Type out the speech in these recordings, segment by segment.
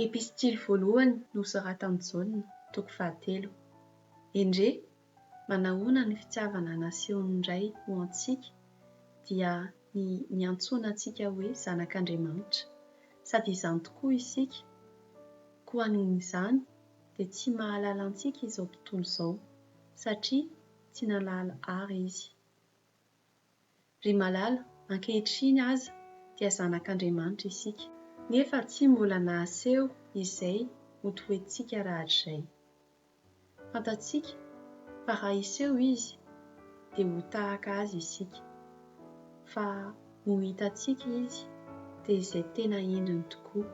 Epistily voalohany nosoratan'i Jaona, toko fahatelo. Endrey, manahoana ny fitiavana nasehon'ny Ray ho antsika dia ny niantsoana antsika hoe zanak'Andriamanitra! Sady izany tokoa isika, koa noho izany dia tsy mahalala antsika izao tontolo izao, satria tsy nalala àry izy. Ry malala, ankehitriny aza dia zanak'Andriamanitra isika, nefa tsy mbola nahaseho izay ho toettsika rahatrizay. Fantatsika fa raha hiseho Izy, dia ho tahaka Azy isika, fa no hitantsika Izy dia izay tena endriny tokoa.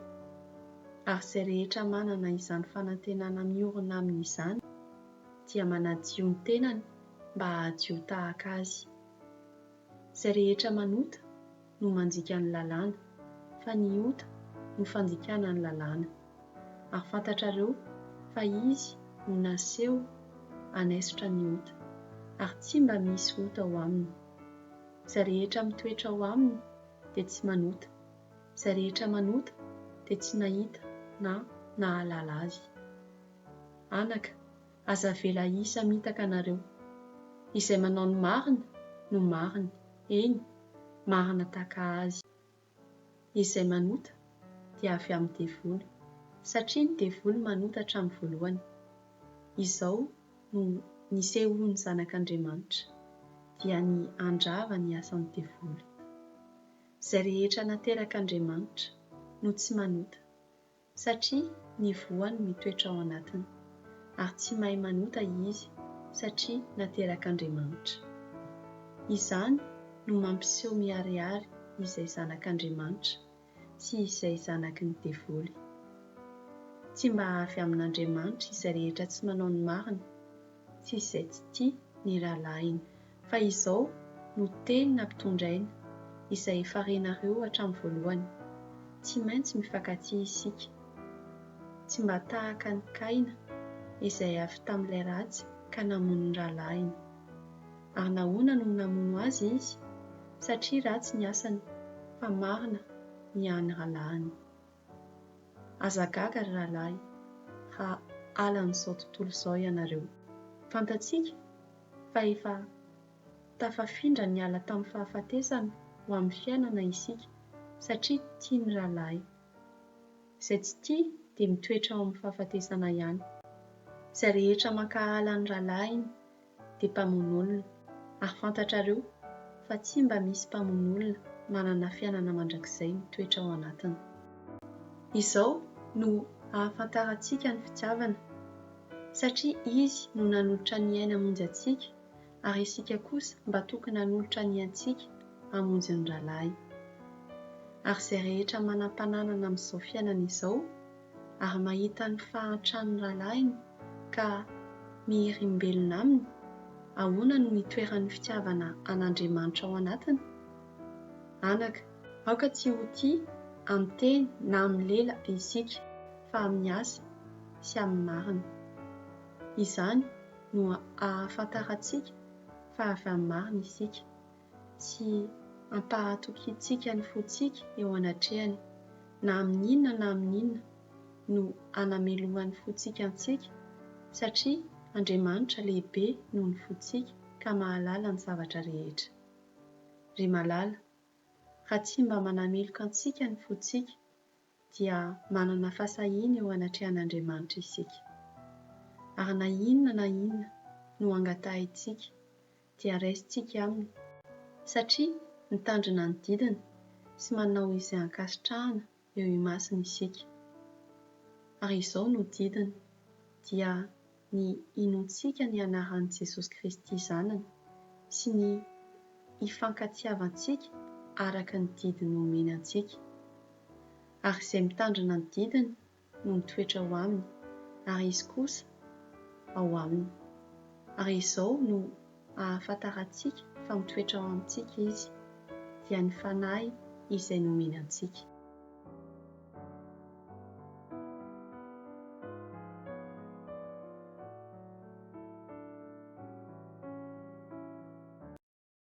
Ary izay rehetra manana izany fanantenana miorina aminy izany, dia manadio ny tenany mba hahadio tahaka Azy. Izay rehetra manota no mandika ny lalàna, fa ny ota no fandikana ny lalàna. Ary fantatrareo fa Izy no naseho hanaisotra ny ota, ary tsy mba misy ota ao Aminy. Izay rehetra mitoetra ao Aminy dia tsy manota. Izay rehetra manota dia tsy nahita na nahalala Azy. Anaka, aza avela hisamitaka nareo. Izay manao ny marina no marina, eny, marina tahaka azy. Izay manota dia avy amin'ny devoly, satria ny devoly manota hatramin'ny voalohany. Izao no nisehoan'ny Zanak'Andriamanitra, dia ny handrava ny asan'ny devoly. Izay rehetra naterak'Andriamanitra no tsy manota, satria ny voany mitoetra ao anatiny, ary tsy mahay manota izy satria naterak'Andriamanitra. Izany no mampiseho miharihary izay zanak'Andriamanitra sy izay zanaky ny devoly. Tsy mba avy amin'Andriamanitra izay rehetra tsy manao ny marina sy izay tsy tia ny rahalahiny. Fa izao no tenina mpitondra aina, izay efa renareo hatramin'ny voalohany, tsy maintsy mifankatia isika, tsy mba tahaka an'i Kaina, izay avy tamin'ilay ratsy ka namono ny rahalahiny. Ary nahoana no namono azy izy? Satria ratsy ny asany, fa marina ny an'ny rahalahiny. Aza gaga ry rahalahy, raha halan'izao tontolo izao ianareo. Fantatsika fa efa tafafindra niala tamin'ny fahafatesana ho amin'ny fiainana isika satria tia ny rahalahy. Izay tsy tia dia mitoetra ao amin'ny fahafatesana ihany. Izay rehetra mankahala ny rahalahiny dia mpamono olona, ary fantatrareo fa tsy mba misy mpamono olona manana fiainana mandrakizay mitoetra ao anatiny. Izao no ahafantarantsika ny fitiavana. satria Izy no nanolotra ny ainy hamonjy antsika, ary isika kosa mba tokony hanolotra ny antsika hamonjy ny rahalahy. Ary izay rehetra manam-pananana amin'izao fiainana izao, ary mahita ny fahantran'ny rahalahiny ka miherimbelona aminy, ahoana no itoeran'ny fitiavana an'Andriamanitra ao anatiny? Anaka. Aoka tsy ho tia amin'ny teny na amin'ny lela isika, fa amin'ny asa sy amin'ny marina. Izany no ahafantarantsika fa avy amin'ny marina isika, sy ampahatokiantsika ny fontsika eo anatrehany, na amin'ny inona na amin'ny inona no anamelohan'ny fontsika antsika, satria Andriamanitra lehibe noho ny fontsika ka mahalala ny zavatra rehetra. Ry malala, Raha tsy mba manamiloka antsika ny fontsika, dia manana fahasahiana eo anatrehan'Andriamanitra isika. Ary na inona na inona no angatahintsika, dia raisintsika Aminy, satria mitandrina ny didiny sy manao izay ankasitrahana eo imasony isika. Ary izao no didiny, dia ny hinoantsika ny anaran'i Jesosy Kristy Zanany sy ny hifankatiavantsika araka ny didy nomeny antsika. Ary izay mitandrina ny didiny no mitoetra ao aminy, ary izy kosa ao aminy. Ary izao no. ahafantarantsika fa mitoetra ao amintsika Izy, dia ny Fanahy izay nomeny antsika.